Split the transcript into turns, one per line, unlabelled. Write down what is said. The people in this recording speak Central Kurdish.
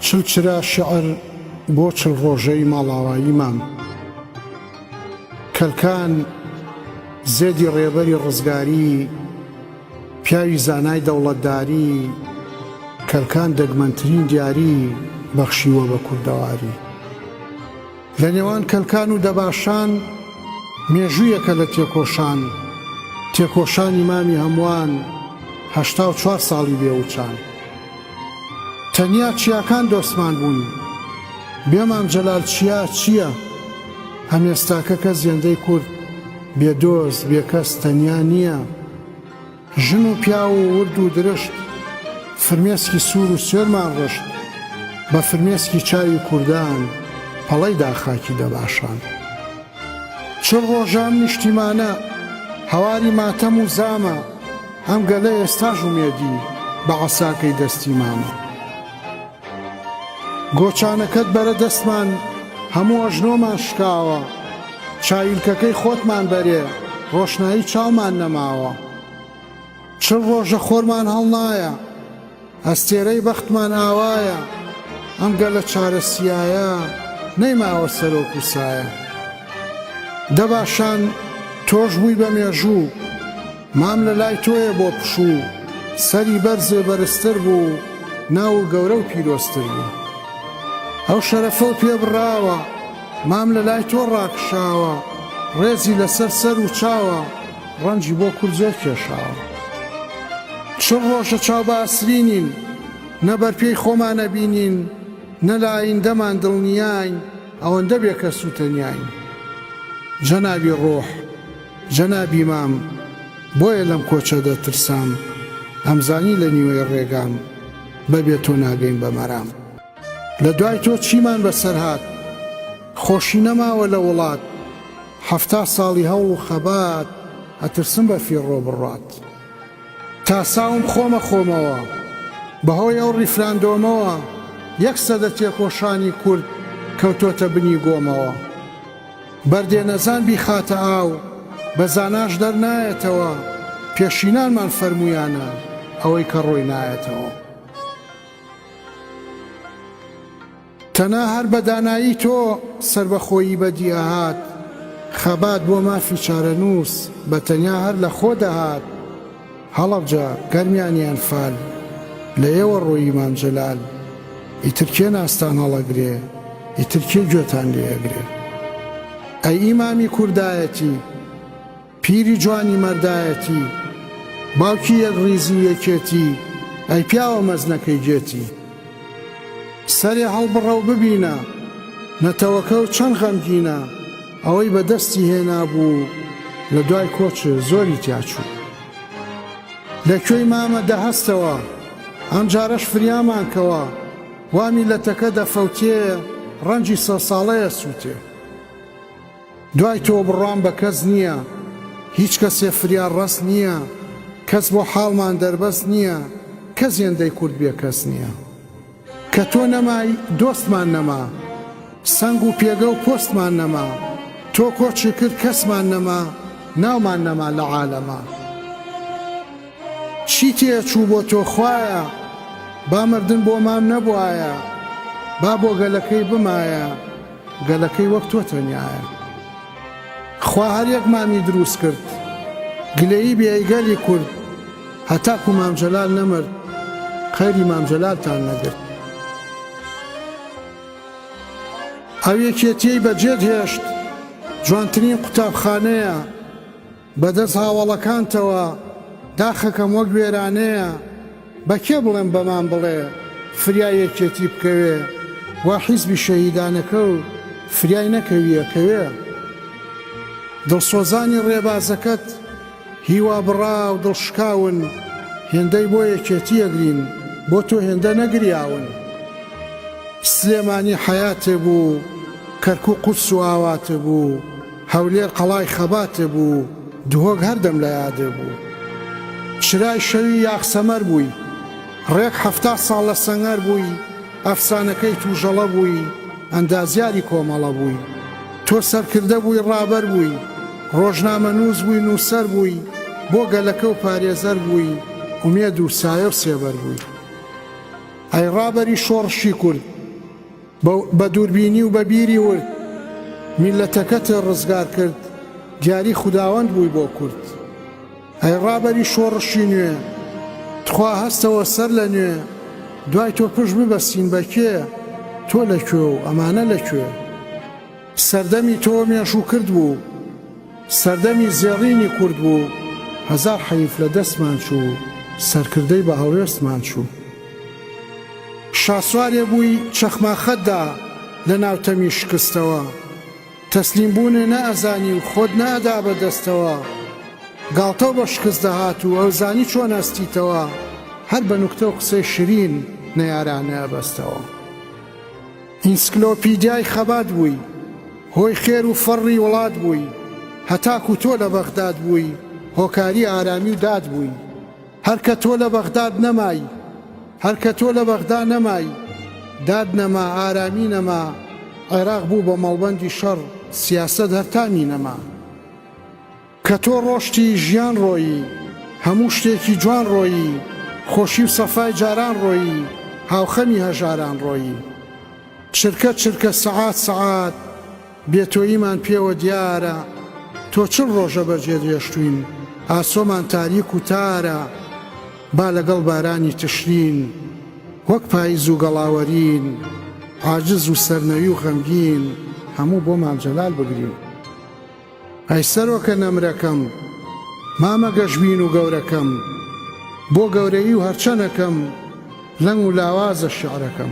چل چرا شیعر بۆ چل ڕۆژەی ماڵاوایی مام کەلکان زێدی ڕێبەری ڕزگاری پیاوی زانای دەوڵەتداری کەلکان دەگمەنترین دیاری بەخشیوە بە کوردەواری. لە نێوان کەلکان و دەباشان مێژوویەکە لە تێکۆشان، تێکۆشانی مامی هەمووان هەشتا و چوار ساڵی بێ وچان. تەنیا چیاکان دۆستمان بوون، بێ مام جەلال چیا چییە؟ ئەم ئێستاکە کە زێندەی کورد بێ دۆست، بێ کەس تەنیا نییە. ژن و پیاو و ورد و درشت فرمێسکی سوور و سوێرمان ڕشت بە فرمێسکی چاوی کوردان پەڵەی دا خاکی دەباشان چل ڕۆژە ئەم نیشتیمانە هەواری ماتەم و زامە ئەم گەلە ئێستاش ئومێدی بە عەساکەی دەستی مامە. گۆچانەکەت بەرە دەستمان هەموو ئەژنۆمان شکاوە چاویلکەکەی خۆتمان بەرێ ڕۆشنایی چاومان نەماوە چل ڕۆژە خۆرمان هەڵنایە ئەستێرەی بەختمان ئاوایە ئەم گەلە چارە سیایە نەیماوە سەرۆک و سایە دەباشان تۆش بووی بە مێژوو مام لە لای تۆیە بۆ پشوو. سەری بەرزێ بەرزتر بوو ناوو گەورە و پیرۆزتر بوو ئەو شەرەفەو پێ بڕاوە مام لە لای تۆ ڕاکشاوە ڕێزی لەسەر سەر و چاوە ڕەنجی بۆ کورد زۆر کێشاوە چل ڕۆژە چاو بە ئەسرینین نە بەر پێی خۆمان ئەبینین نە لە ئایندەمان دڵنیاین ئەوەندە بێکەس و تەنیاین جەنابی ڕۆح. جەنابی مام بۆیە لەم کۆچە دەترسام ئەمزانی لە نیوەی ڕێگام بە بێ تۆ ناگەین بە مەرام لە دوای تۆ چیمان بەسەر هات خۆشی نەماوە لە وڵات حەفتا ساڵی هەوڵ و خەبات ئەترسم بە فیڕۆ بڕات تا ساوم خۆمە خۆمەوە بەهۆی ئەو ڕیفراندۆمەوە یەک سەدە تێکۆشانی کورد کەوتۆتە بنی گۆمەوە. بەردێ نەزان بیخاتە ئاو، بە زاناش دەرنایەتەوە، پێشینانمان فەرموویانە، ئەوەی کە ڕۆی نایەتەوە. تەنها هەر بە دانایی تۆ سەربەخۆیی بەدی ئەهات، خەبات بۆ مافی چارەنووس بە تەنیا هەر لە خۆ دەهات، هەڵەبجە گەرمیان یان فال لە ئێوە ڕۆی ئیمام جەلال ئیتر کێ ناستان هەڵەگرێ ئیتر کێ گوێتان لێ ئەگرێ ئەی ئیمامی کوردایەتی پیری جوانی مەردایەتی باوکی یەک ڕیزی و یەکێتی ئەی پیاوە مەزنەکەی گێتی سەرێ هەڵبڕە و ببینە نەتەوەکە و چەند غەمگینە ئەوەی بە دەستی هێنابوو لە دوای کۆچ زۆری تیا چوو. لە کوێی مامە دەهەستەوە، ئەم جارەش فریامان کەوە، وا میللەتەکە دەفەوتێ، ڕەنجی سەد ساڵەیە سووتێ. دوای تۆ بڕوام بە کەس نییە، هیچ کەسێ فریا ڕەس نییە، کەس بۆ حاڵمان دەربەست نییە، کەس هێندەی کورد بێکەس نییە. کە تۆ نەمای دۆستمان نەما سەنگ و پێگە و پۆستمان نەما تۆ کۆچی کرد کەسمان نەما ناومان نەما لە عالەما چی تێ چوو بۆ تۆ خوایە با مردن بۆ مام نەبوایە با بۆ گەلەکەی بمایە گەلەکەی وەک تۆ تەنیایە. خوا هەر یەک مامی دروست کرد گلەیی بێ ی گەلی کورد هەتاکو مام جەلال نەمرد قەیری مام جەلالتان نەگرت. ئەو یەکێتیەی بەجێت هێشت جوانترین قوتابخانەیە. بە دەست هاوەڵەکانتەوە داخەکەم وەک وێرانەیە بە کێ بڵێم بەمان بڵێ فریای یەکێتی بکەوێ وا حیزبی شەهیدانەکە و فریای نەکەوی ئەکەوێ دڵسۆزانی ڕێبازەکەت هیوا بڕا و دڵ شکاون هێندەی بۆ یەکێتی ئەگرین بۆ تۆ هێندە نەگریاون سلێمانی حەیاتێ بوو کەرکوک قودس و ئاواتێ بوو هەولێر قەڵای خەباتێ بوو و دهۆک هەردەم لە یادێ بوو. چرای شەوی یاخ سەمەر بووی. ڕێک حەفتا ساڵ لە سەنگەر بووی. ئەفسانەکەی تووژەڵە بووی. ئەندازیاری کۆمەڵە بووی. تۆ سەرکردە بووی ڕابەر بووی. ڕۆژنامەنووس بووی نووسەر بووی. بۆ گەلەکە و پارێزەر بووی. ئومێد و سایە و سێبەر بووی. ئەی ڕابەری شۆڕشی کورد! بە دووربینی و بە بیری ورد میللەتەکەت ڕزگار کرد دیاری خوداوەند بووی بۆ کورد ئەی ڕابەری شۆڕشی نوێ تخوا هەستەوە سەر لە نوێ دوای تۆ پشت ببەستین بە کێ تۆ لە کوێ و ئەمانە لە کوێ؟ سەردەمی تۆ مێژوو کرد بوو سەردەمی زێڕینی کورد بوو هەزار حەیف لە دەستمان چوو سەرکردەی بە هەڵوێستمان چوو شاسوارێ بووی چەخماخەت دا لە ناو تەمی شکستەوە تەسلیم بوونێ نە ئەزانی و خۆت نە ئەدا بە دەستەوە گاڵتەو بە شکست دەهات و ئەوزانی چۆن ئەستیتەوە هەر بە نوکتەو قسەی شرین نەیارانە ئەبەستەوە. ئینسکلۆپیدیای خەبات بووی هۆی خێر و فەڕی وڵات بووی هەتاکو تۆ لە بەغداد بووی هۆکاری ئارامی و داد بووی هەر کە تۆ لە بەغداد نەمای هەر کە تۆ لە بەغدا نەمای داد نەما ئارامی نەما عێراق بوو بە مەڵبەندی شەڕ سیاسەت هەر تامی نەما. کە تۆ ڕۆشتی ژیان ڕۆیی هەموو شتێکی جوان ڕۆیی خۆشی و سەفای جاران ڕۆیی هاوخەمی هەژاران ڕۆیی چرکە چرکە سەعات سەعات بێ تۆییمان پێوە دیارە تۆ چل ڕۆژە بە جێ درێژتووین ئاسۆمان تاریک و تارە با لەگەڵ بارانی تشرین وەک پایز و گەڵاوەرین عاجز و سەرنەوی و غەمگین هەموو بۆمان جەلال بگرین. ئەی سەرۆکە نەمرەکەم، مامە گەشبین و گەورەکەم، بۆ گەورەیی و هەرچەنەکەم، لەنگ و لاوازە شیعرەکەم.